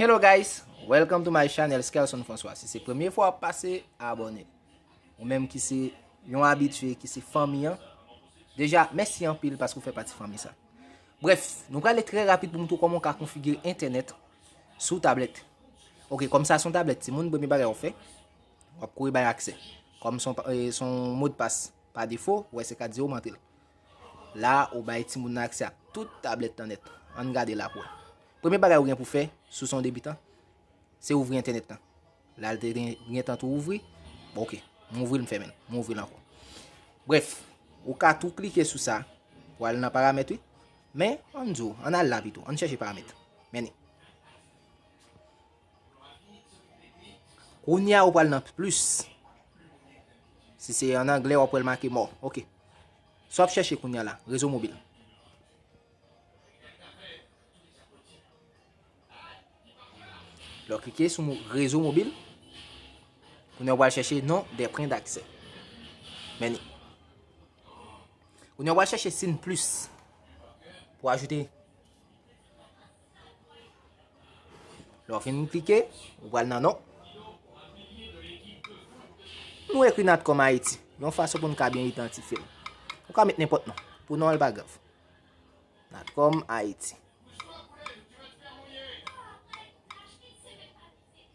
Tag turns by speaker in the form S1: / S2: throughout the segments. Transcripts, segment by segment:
S1: Hello guys, welcome to my channel Skelson François Si se premye fwa wap pase, abone Ou menm ki se yon abitye, ki se fanmi an Deja, mèsi anpil paske ou fè pati fanmi sa Bref, nou prale trè rapid pou moutre w kòman w ka konfigire entènèt sou tablèt Ok, kòm sa son tablèt timoun, premye bagay wap fè Wap kouri bay aksè Kòm son modpas pa defo, wè se 4 0 m antre l La ou bay timoun nan aksè ak tout tablèt lan nèt. Ann gade la pou wè. Premye bagay ou gen pou fè, si w se yon debitan, se ouvri entènèt lan. La l te gen tan tou ouvri, bon ok, m ouvri l m fèmen l, m ouvri l ankò. Brèf, ou ka tou klike sou sa pou al nan paramèt wi. Men, ann di w, ann al la pito, ann chèche paramèt. Mène. Kounye a ou pral nan plus. Si se an anglè wap wèl make mò. Ok. Sa wap chèche kounye a la. Rezo mobil. Lò klike sou rezo mobil. Kounye a wap chèche non de pren d'aksè. Meni. Kounye a wap chèche sin plus. Pou ajoute. Pou ajoute. Lè w fin klike, ou pral nan non. Nou ekri Natcom Haiti, yon fason pou nou ka byen idantifye l. Ou ka met nenpòt non, pou non an li pa grav. Natcom Haiti.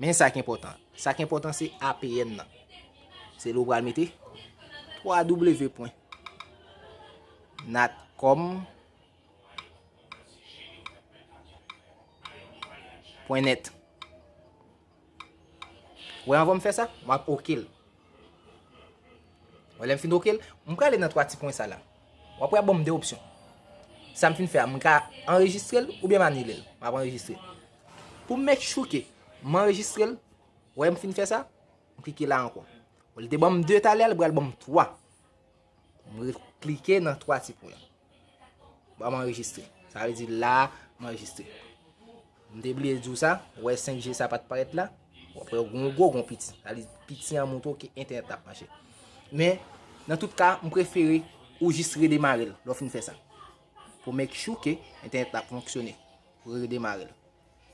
S1: Men sa ki enpòtan. Sa ki enpòtan se APN nan. Se lè ou pral mete www. Natcom Haiti. Pwen nèt. Wè anvan m fè sa, m ap ok l. Wè lè m fin ok l, m prale nan 3 ti pwen sa la. W ap wè y ap ban m 2 opsyon. Sa m fin fè a, m ka anrejistre l oubyen m anile l. M ap anrejistre l. Pou m make sure ke m anrejistre l, wè m fin fè sa, m klike la ankò. Wè l te ban m 2 talè a, li pral ban m 3. M re klike nan 3 ti pwen. Ba m anrejistre. Sa vle di la m anrejistre. M te bliye di w sa. Ou wè 5G sa pa t parèt la. Ou ap wè yon gwo gwo yon piti. Sa vle di piti an montre w ke entènèt la ap mache. Men, nan tout ka, m prefere ou jis redemare l lè w fin fè sa. Pou make sure ke entènèt la ap fonksyone. Ou redemare l.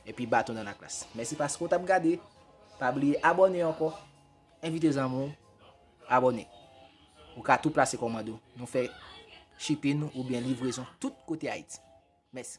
S1: Epi baton nan laklas. Mèsi paske w t ap gade. Pa bliye abòne ankò. Envite zanmi w abòne. Ou ka tou plase kòmand ou. Nou fè shipping oubyen livrezon tout kote Ayiti. Mèsi.